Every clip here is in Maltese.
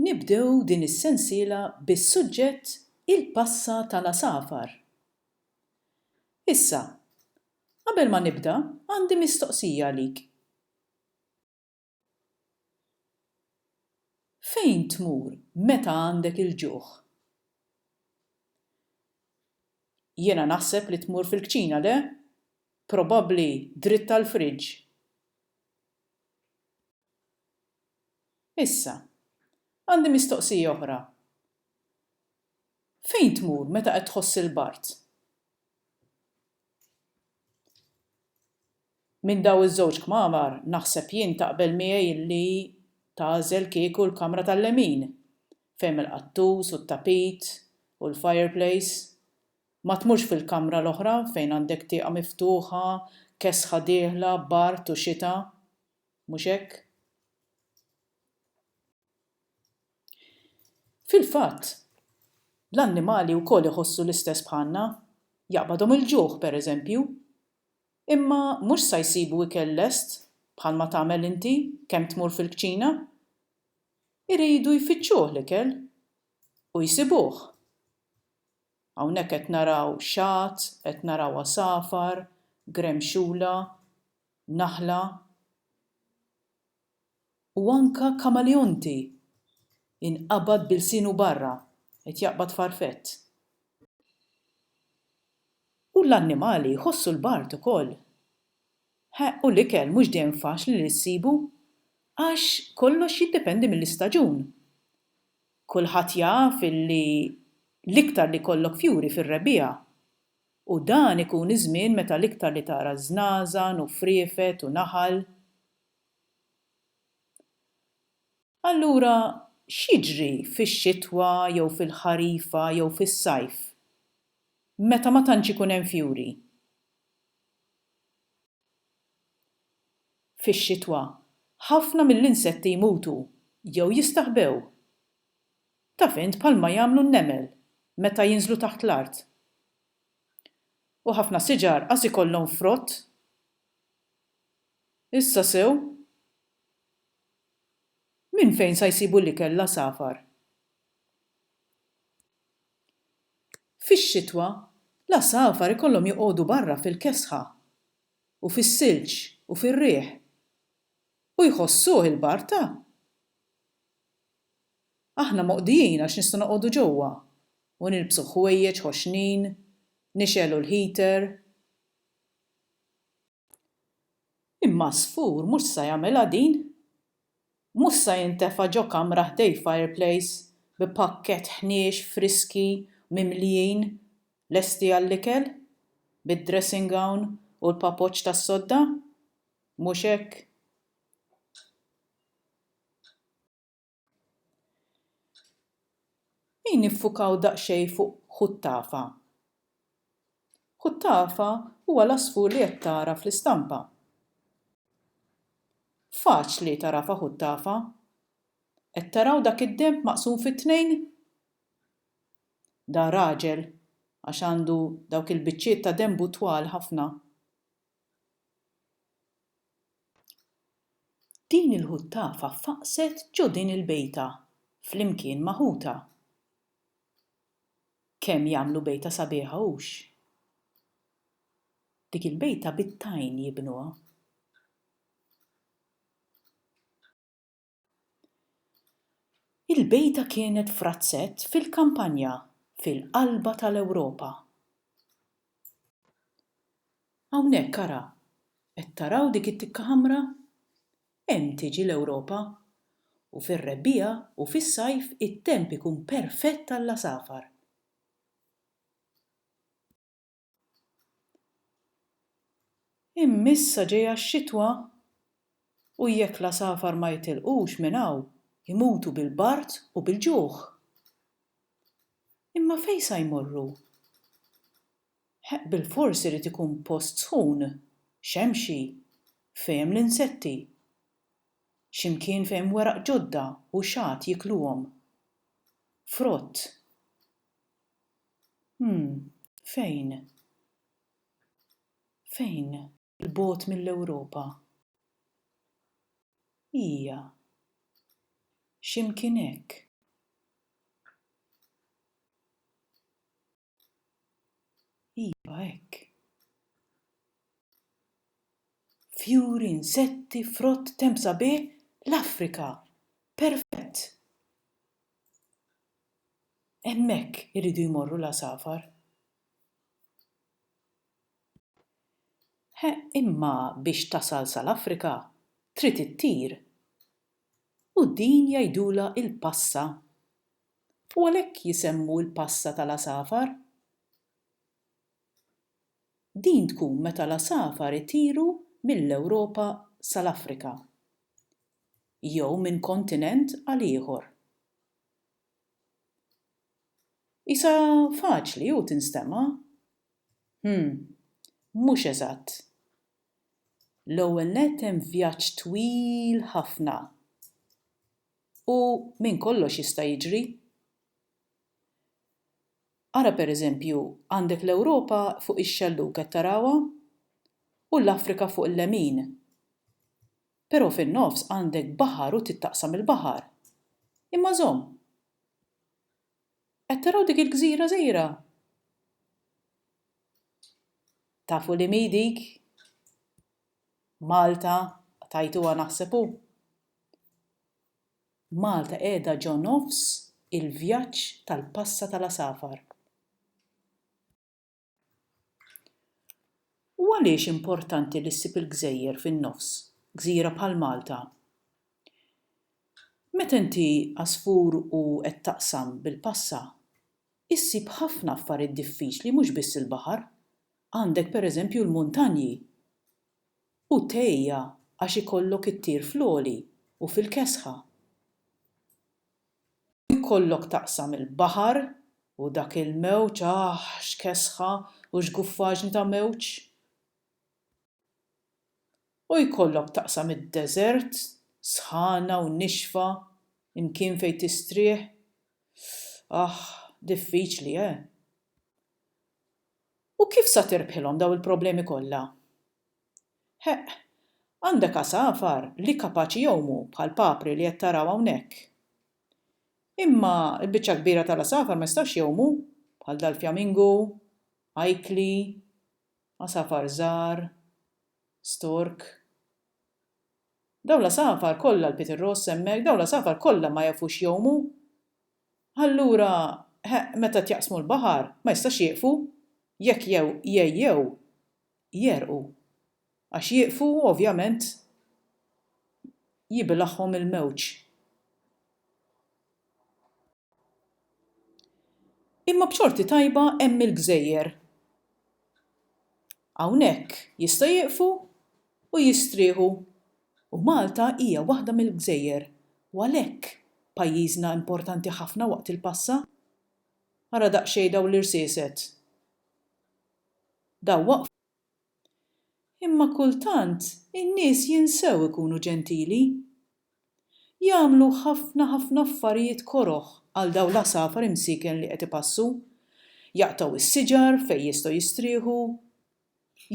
Nibdew din is-sensiela bis-suġġett Il-Passa tal-Għasafar. Issa, qabel ma nibda, għandi mistoqsija għalik. Fejn tmur meta għandek il-ġuħ? Jiena naħseb li tmur fil-kċina, le? Probabbli dritt għall-fridge. Issa, għandi mistoqsija oħra. Fejn tmur meta qed tħoss il-bard? Minn daw iż-żewġ kmamar naħseb jien taqbel miegħi li tagħżel kieku l-kamra tal-lemin, fejn hemm il-qattus u t-tapit u l-fireplace. Ma tmurx fil-kamra l-oħra fejn għandek tieqa miftuħa, kesħa dieħla, bard u xita. Mhux hekk? Fil-fatt, l-annimali wkoll iħossu l-istess bħalna. Jaqbadhom il-ġuħ, pereżempju. Imma mhux sa jsibu ikel lest bħalma tagħmel inti kemm tmur fil-kċina. Iridu jfittxuh l-ikel. U jsibuh. Hawnhekk qed naraw xagħat, qed naraw għasafar, gremxula, naħla u anke kamaleonti jinqabad b'ilsienu barra, qed jaqbad farfett. U l-annimali jħossu l-bard ukoll. He, u l-ikel mhux dejjem faċli li ssibu għax kollox jiddependi mill-istaġun. Kulħadd jaf illi l-iktar li jkollok fjuri fir-rebbiegħa u dan ikun iż-żmien meta l-iktar li tara żnażan u friefet u naħal. Allura x'jiġri fix-xitwa jew fil-ħarifa jew fis-sajf meta ma tantx ikun hemm fjuri? Fix-xitwa, ħafna mill-insetti jmutu jew jistaħbew. Taf int bħalma jagħmlu n-nemel meta jinżlu taħt l-art. U ħafna siġar qas ikollhom frott. Issa sew? Minn fejn sa jsibu l-ikel l-għasafar? Fix-xitwa, l-għasafar ikollhom joqogħdu barra fil-kesħa u fis-silġ u fir-riħ. U jħossuh il-barta? Aħna moqdijin għax nistgħu noqogħdu ġewwa u nilbsu ħwejjeġ ħoxnin, nixgħelu l-heater. Imma żfur mhux sa jagħmilha din. Mhux sa jintefa' ġo kamra ħdej fireplace bi pakkett ħniex friski mimlijin lesti għall-ikel, bid-dressing gown u l-papoċċ tas-sodda. Mhux hekk. Ejn niffukaw daqsxejn fuq Huttafa. Huttafa huwa l-għasfur li qed tara fl-istampa. Faċli tagħrafha Huttafa. Qed taraw dak id-denb maqsum fi tnejn? Dan raġel għax għandu dawk il-biċċiet ta' denbu twal ħafna. Din il-ħuttafa faqqset ġo din il-bejta flimkien ma' ħutha. Kemm jagħmlu bejta sabiħa hux? Dik il-bejta bit-tajn jibnuha. Il-bejta kienet f'razzett fil-kampanja fil-qalba tal-Ewropa. Hawnhekk ara, qed taraw dik it-tikka ħamra? Hemm tiġi l-Ewropa. U fir-rebbiegħa u fis-sajf it-temp ikun perfett għall-għasafar. Immissa ġejja x-xitwa u jekk l-għasafar ma jitilqux minn hawn imutu bil-bard u bil-ġuħ. Imma fejn sa jmorru? Heq bilfors irid ikun post sħun, xemxi, fejn hemm l-insetti. Xi mkien fejn hemm weraq ġodda u xagħat jikluhom. Frott. Hm. Fejn? Fejn? 'l bogħod mill-Ewropa? Hija. Xi mkien hekk. Iva, hekk. Fjuri, insetti, frott, temp sabiħ, l-Afrika! Perfett! Hemmhekk iridu jmorru l-għasafar. He, imma biex tasal sal-Afrika, trid ittir. U din jgħidulha l-passa. U għalhekk jisemmu l-passa tal-għasafar. Din tkun meta l-għasafar itiru mill-Ewropa sal-Afrika. Jew minn kontinent għal ieħor. Qisha faċli u tinstema'. Hm, mhux eżatt. L-ewwel nett hemm vjaġġ twil ħafna u minn kollox jista' jiġri. Ara per eżempju għandek l-Ewropa fuq ix-xellug qed tarawha? U l-Afrika fuq il-lemin. Però fin-nofs għandek baħar u trid taqsam il-baħar. Imma żomm! Qed taraw dik il-gżira żgħira? Tafu li mhi dik? Malta, tajtuha naħseb hu. Malta qiegħda ġo nofs il-vjaġġ tal-passa tal-għasafar. U għaliex importanti li ssib il-gżejjer fin-nofs, gżira bħal Malta? Meta inti għasfur u qed taqsam bil-passa, issib ħafna affarijiet diffiċli mhux biss il-baħar, għandek per eżempju l-muntanji. U tgħejja għax ikollok ittir fl-għoli u fil-kesħa. U jkollok taqsam il-baħar u dak il-mewġ, aħ, x'kesħa u x'guffaġni ta' mewġ! U jkollok taqsam id-deżert, sħana u nixfa, imkien fejn tistrieħ, aħ, diffiċli, eh! U kif sa tirbħilhom dawn il-problemi kollha? Heq, għandek għasafar li kapaċi jgħumu bħal papri li qed taraw hawnhekk. Imma l-biċċa l-kbira tal-għasafar ma jistgħux jgħumu, bħal dal-fjamingu, ajkli, għasafar żgħar, stork. Dawn l-għasafar kollha l-pitirross hemmhekk, dawn l-għasafar kollha ma jafux jgħumu. Allura, heq, meta qed jaqsmu l-baħar, ma jistax jieqfu, jekk jgħejjew. jegħrqu, għax jieqfu u ovvjament jibilgħhom il-mewġ. Imma b'xorti tajba hemm il-gżejjer. Hawnhekk jista' jieqfu u jistrieħu u Malta hija waħda mill-gżejjer u għalhekk pajjiżna importanti ħafna waqt il-passa. Ara daqsxejn dawn l-irsieset. Daw waqfu. Imma kultant in-nies jinsew ikunu ġentili. Jagħmlu ħafna ħafna affarijiet koroh għal dawn l-għasafar imsieken li qed ipassu. Jaqtgħu s-siġar fejn jistgħu jistrieħu.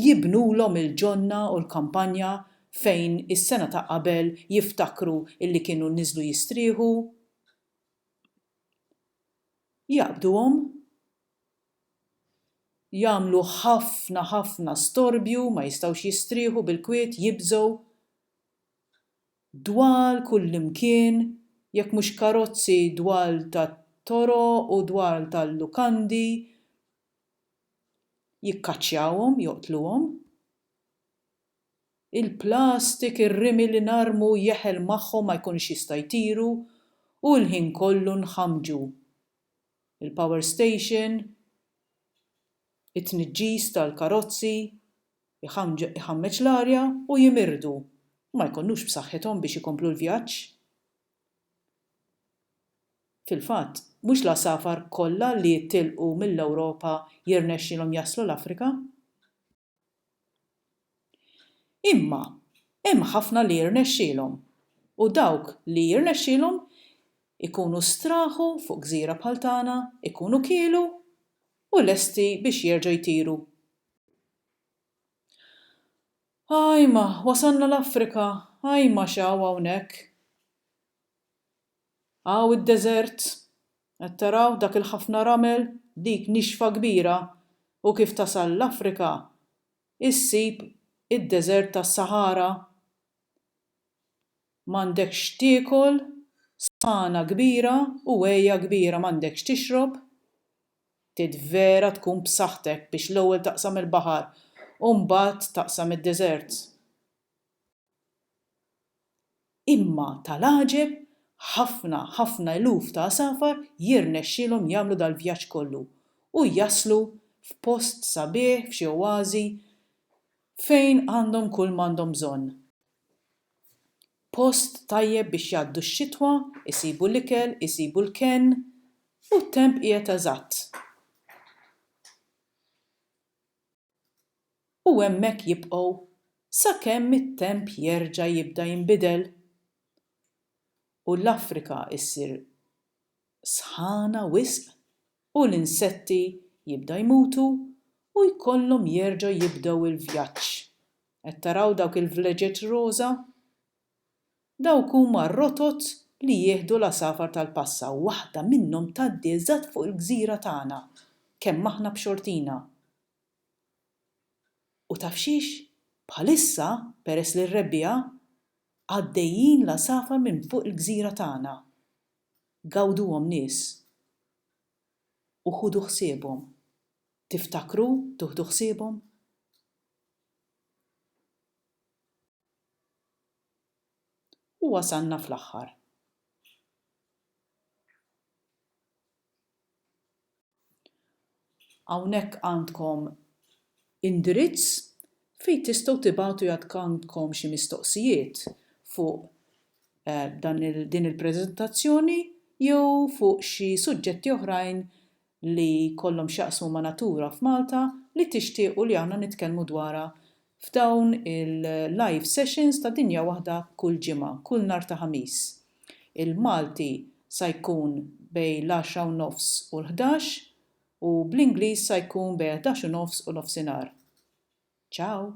Jibnulhom il-ġonna u l-kampanja fejn is-sena ta' qabel jiftakru li kienu niżlu jistrieħu. Jaqbduhom. jagħmlu ħafna ħafna storbju, ma jistgħux jistrieħu bil-kwiet, jibżgħu dwal kullimkien, jekk mhux karozzi dwal tat-toroq u dwal tal-lukandi, jikkaċċjawhom, joqtluhom. Il-plastik, ir-rimi li narmu jeħel magħhom ma jkunux jista' jtiru u l-ħin kollu nħammġu. il-power station, it-tniġġis tal-karozzi, iħammeġ l-arja u jimirdu u ma jkunux b'saħħithom biex ikomplu l-vjaġġ. Fil-fatt, mhux l-għasafar kollha li jitilqu mill-Ewropa jirnexxilhom jaslu l-Afrika. Imma hemm ħafna li jirnexxielhom, u dawk li jirnexxielhom ikunu straħu fuq gżira bħal tagħna, ikunu kielu u lesti biex jerġgħu jtiru. Ajma, wasalna l-Afrika, ajma x'hawn hawnhekk! Hawn id-deżert. Qed taraw dak il-ħafna ramel, dik nixfa kbira, u kif tasal l-Afrika issib id-deżert tas-Sahara. M'għandekx x'tiekol, sħana kbira u għeja kbira, m'għandek x'tixrob. Trid vera tkun b'saħħtek biex l-ewwel taqsam il-baħar u mbagħad taqsam id-deżert. Imma tal-għaġeb, ħafna, ħafna eluf ta' għasafar jirnexxielhom jagħmlu dal-vjaġġ kollu u jaslu f'post sabiħ, f'xi oażi, fejn għandhom kull m'għandhom bżonn. Post tajjeb biex jgħaddu x-xitwa, isibu l-ikel, isibu l-kenn, u t-temp qiegħed eżatt. u hemmhekk jibqgħu sakemm it-temp jerġa' jibda jinbidel u l-Afrika ssir sħana wisq u l-insetti jibda jmutu u jkollhom jerġgħu jibdew il-vjaġġ. Qed taraw dawk il-vleġeġ roża? Dawk huma r-rotot li jieħdu l-għasafar tal-passa u waħda minnhom tgħaddi eżatt fuq il-gżira tagħna kemm aħna b'xortina. U taf x'hix? Bħalissa, peress li r-rebbiegħa, għaddejjin l-għasafar minn fuq il-gżira tagħna. Gawduhom nies u ħudu ħsiebhom. Tiftakru tuħdu ħsiebhom? U wasalna fl-aħħar. Hawnhekk għandkom indirizz fejn tistgħu tibgħatu jekk għandkom xi mistoqsijiet fuq dan din il-preżentazzjoni jew fuq xi suġġetti oħrajn li jkollhom x'jaqsmu ma' natura f'Malta li tixtiequ li aħna nitkellmu dwarha f'dawn il-live sessions ta' Dinja Waħda kull ġimgħa, kull nhar ta' Ħamis. Il-Malti sa jkun bejn l-għaxra u nofs u l-ħdax u bl-Ingliż sa jkun bejn ħdax u nofs u nofsinhar. Ciao!